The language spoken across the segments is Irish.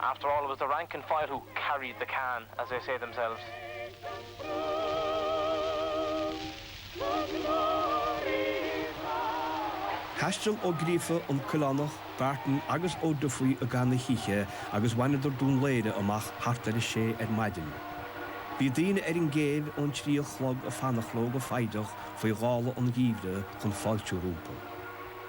After all it was the rank and file who carried the can as they say themselves. Thaistil Ó Gríofa, an Coileánach, Barton agus Ó Dufaigh i gcaitheamh na hoíche agus bhaineadar Dún Laoghaire amach thart ar a sé ar maidin. Bhí daoine ar an gcéibh ón trí a chlog ag fanacht leo go foighdeach faoi ghála an gheimhridh chun fáiltiú rompu.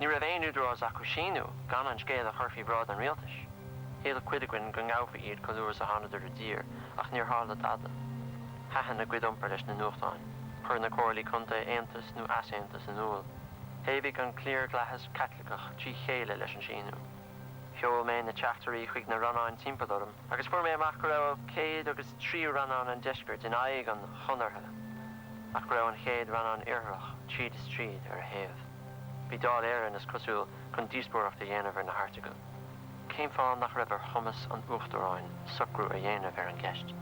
Ní raibh aon údarás acu síniú gan an scéal a chur faoi bhráid an rialtais. Shíl cuid againn go ngabhfaí iad chomh luath is a thánadar i dtír ach níor tharla dada. Thaitin a gcuid iompair leis na nuachtáin. Chuir na comhairlí contae aontas nó easaontas in iúl. Thaobhaigh an cliarlathas Caitliceach trí chéile leis an síniú. Sheol mé na teachtairí chuig na rannáin timpeall orm agus fuair mé amach go raibh céad agus tríú rannán an deiscirt in aghaidh an chonartha. ach go raibh an chéad rannán Iartharach tríd is tríd ar a thaobh. Bhí Dáil Éireann, is cosúil, chun díospóireacht a dhéanamh ar na hairteagail. Cén fáth nach raibh ar chumas an Uachtaráin socrú a dhéanamh ar an gceist?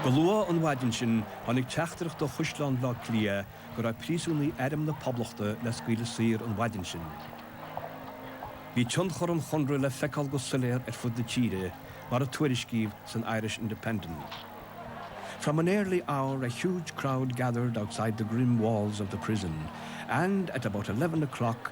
Go luath an mhaidin sin, tháinig teachtaireacht ó Chaisleán Bhaile Átha Cliath go raibh príosúnaigh Airm na Poblachta le scaoileadh saor an mhaidin sin. Bhí tionchar an Chonartha le feiceáil go soiléar ar fud na tíre mar a tuairiscíodh san Irish Independent, From an early hour a huge crowd gathered outside the grim walls of the prison and at about eleven o'clock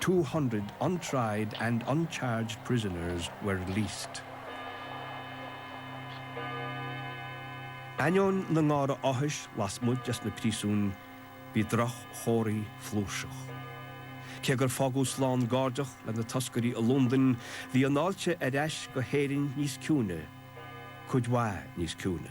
Two hundred untried and uncharged prisoners were released. Ainneoin na ngártha áthais lasmuigh de na príosúin, bhí droch-chomharthaí flúirseach. Cé gur fágadh slán gairdeach le na toscairí i Londain, bhí an fháilte ar ais go hÉirinn níos ciúine, cuid mhaith níos ciúine.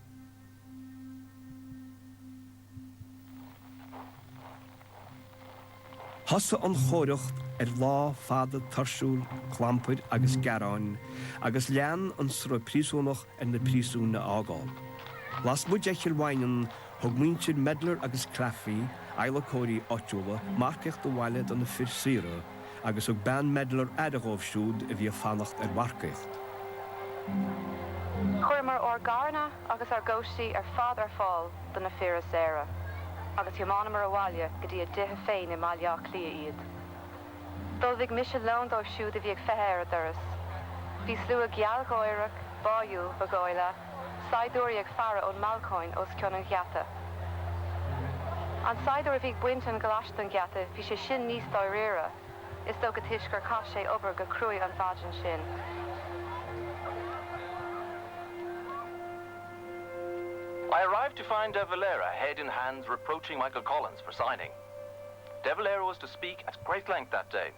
Thosaigh an Chomh-Aireacht ar lá fada tuirsiúil clampair agus gearáin agus lean an sruth príosúnach ar na príosúin a fhágáil. Lasmuigh de Chill Mhaighneann, thug muintir Medlar agus Claffey, adhlacóirí áitiúla, marcaíocht abhaile do na fir saora, Agus thug bean Medlar aire dhóibh siúd a bhí ag fanacht ar mharcaíocht. Chuireamar ár gcarranna agus ár gcóistí ar fad ar fáil do na fir a saoradh agus thiomáineamar abhaile go dtí a dtithe féin i mBaile Átha Cliath iad. D'ullmhaigh mise lón dóibh siúd a bhí ag feitheamh ar a dturas. Bhí slua gealgháireach, báúil, ba dhóigh leat. Saighdiúirí ag faire ón mbalcóin os cionn an gheata. An saighdiúir a bhí ag baint an ghlais den gheata, bhí sé sin níos dáiríre, is dócha, toisc gur chaith sé obair go cruaidh an mhaidin sin. I arrived to find De Valera head in hands reproaching Michael Collins for signing. De Valera was to speak at great length that day.